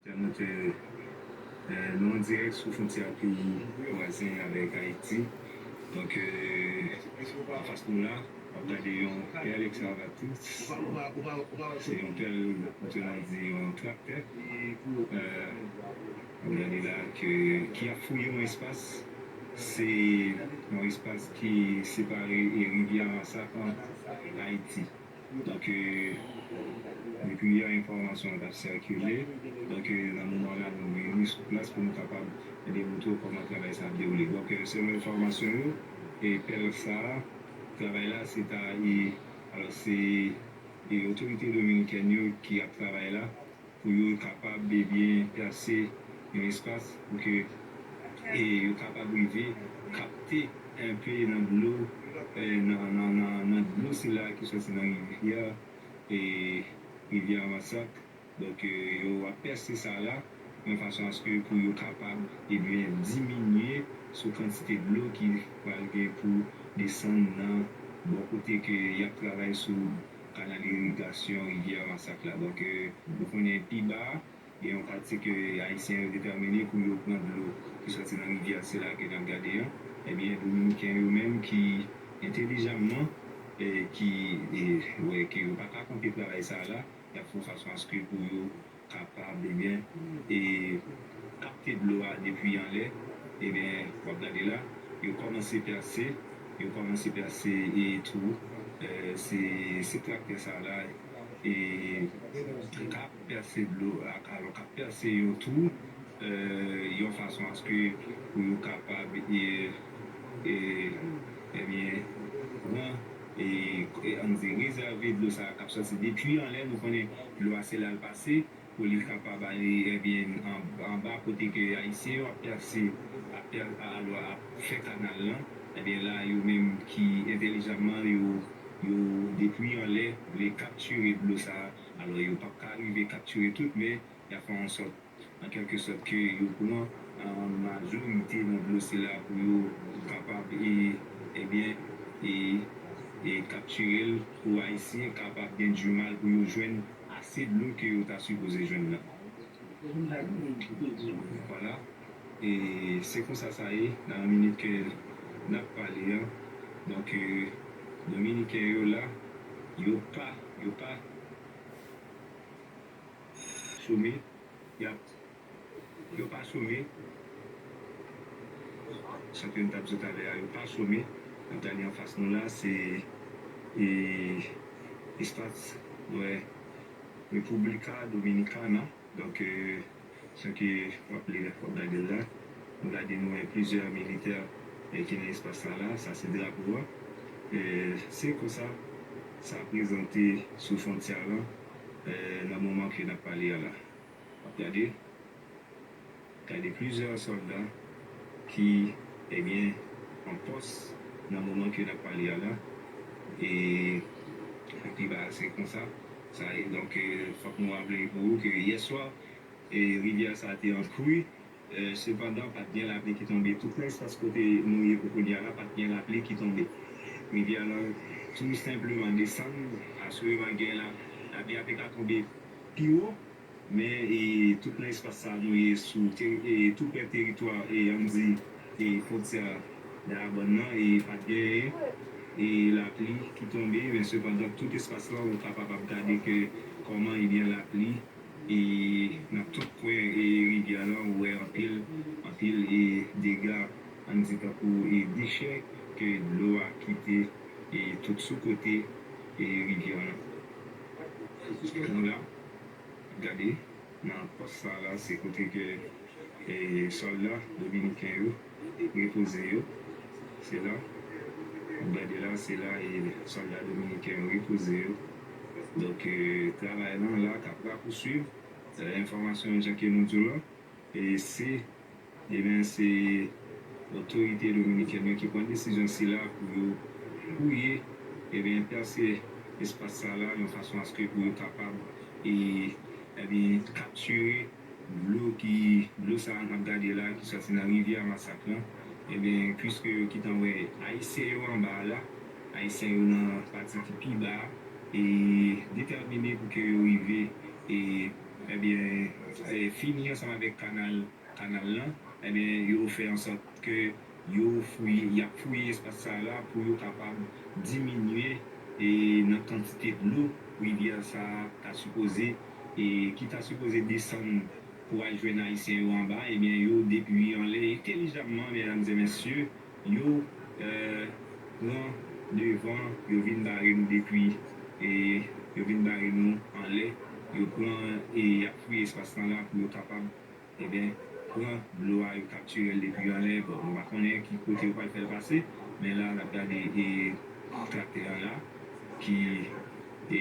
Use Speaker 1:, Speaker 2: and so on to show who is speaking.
Speaker 1: Lè nou te nou an dirèk sou fontyè peyi vwazen avèk Ayiti, donk anfas nou la, w ap gade yon pèl ekskavatis, se yon pèl ou te nan di yon traktè, w ap gade la ke ki ap fouye yon espas, se yon espas ki separe rivyè Masak an Ayiti. Otan ke yon kiyè enfòmasyon an t ap sikile, otan ke nan moman la nou gen ni sou plas pou nou kapab demoutre w kòman travay sa ap dewoule. Donk, selon enfòmasyon yo, e pèlk sa a, travay la se ta e, alòs se e otorite dominikèn yo ki ap travay la, pou yo kapab byen plase yon espas pou ke yo kapab rive kapte enpe nan dlo nan dlo sila ki soti nan rivyè rivyè Amasak donk yo ap pèse sa la yon fason aske pou yo kapab ebyen diminye sou kantite dlo ki pral gen pou desann nan bò kote ke yap travay sou kanal irigasyon rivyè masak la donk nou konnen pi ba gen yon pati ke ayisyen yo detèmine pou yo pran dlo ki sòti nan rivyè sila ke nap gade an ebyen dominiken yo menm ki entelijamman ki wè ke yo paka kanpe travay sa la yap fon fason aske pou yo kapab ebyen e kapte dlo a depi anlè ebyen wap gade la yo kòmanse pèse yo kòmanse pèse e twou se se traktè sa la e kap pèse dlo alò kap pèse yon twou yon fason aske pou yo kapab e ebyen pran. An nou di rezève dlo sa kap sòti depui anlè nou konnen dlo a se lal pase pou li kapab ale ebyen anba kote ke ayisyen yo ap pèse ap pè alò ap fè kanal lan ebyen la yo menm ki entèlijanman yo yo depui anlè vle kaptire dlo sa alò yo pap ka rive kaptire tout men yap fè yon sòt an kèlke sòt ke yo pran majorite nan dlo sila pou yo kapab e ebyen e kaptirel pou ayisyen kapab gen du mal pou yo jwenn ase dlo ke yo ta sipoze jwenn nan. Vwala e se konsa sa ye nan minit ke nap pale an donk dominiken yo la yo pa yo pa. Some yap yo pa some sa ke nou tap di talè a yo pa some nap gade anfas nou la se e espas nou wè República Dominicana donk sa ke wap li la wap gade l la nou gade nou wè plizyè militè ki nan espas sa la sa se drapo a se konsa sa prezante sou fontyè a lan. Nan moman ke nap pale a la, map gade, gade plizyè sòlda ki ebyen an pòs nan moman ke nap pale a la, e pi ba a se konsa sa ye. Donk fòk nou raple pou ou ke yè swa rivyè sa te an kwi. Sepandan, pa t gen lapli ki tonbe. Tout nan sans kote nou ye pou kounye a la, pa t gen lapli ki tonbe. Rivyè a lan tou senpleman desann. Aswireman gen la, lapli a te ka tonbe pi wo, men tout nan espas sa a nou ye sou tou prè teritwa an n di fwontyè Dayabòn nan, pa t gen lapli ki tonbe. Men sepandan, tout espas lan ou kapab ap gade ke kòman ebyen lapli. E nan tout kwen e rivyè lan ou wè anpil anpil e dega ann di tankou e dechè ke dlo a kite e tout sou kote e rivyè lan. Kite nou la gade nan pòs sa la se kote ke e sòlda dominiken yo. Repoze yo, se la. Wap gade la, se la e sòlda dominiken yo repoze yo. Donk travay lan la kap rapousuiv. Enfòmasyon an jan ke nou di'w lan, e se, e ben se otorite dominikèn yo ki pran desizyon sila pou yo fouye, e ben pèse espas sa la yon fason aske pou yo kapab e, e ben kaptire. Dlo ki dlo sa a nap gade la ki sòti nan rivyè a masak lan ebyen pwiske yo kitan wè ayisyen yo anba a la ayisyen yo nan pati ki pi ba a e detèmine pou ke yo rive e ebyen fini ansanm avèk kanal kanal lan ebyen yo fè ansòt ke Yo fouye, y ap fouye espas sa yo a pou yo kapab diminye nan kantite dlo rivyè sa a ta sipoze, ki ta sipoze desann pou al jwenn Ayisyen yo anba. Ebyen yo depwiye anlè entelijamman, medam e mesye, yo pran devan, yo vin bare nou depwi, yo vin bare nou anlè, yo pran e y ap fouye espas lan la pou yo kapab. Ebyen pran dlo a yo kaptirel depi yo anlè bon nou pa konnen ki kote yo pral fèl pase men la nap gade e traktè an la ki e.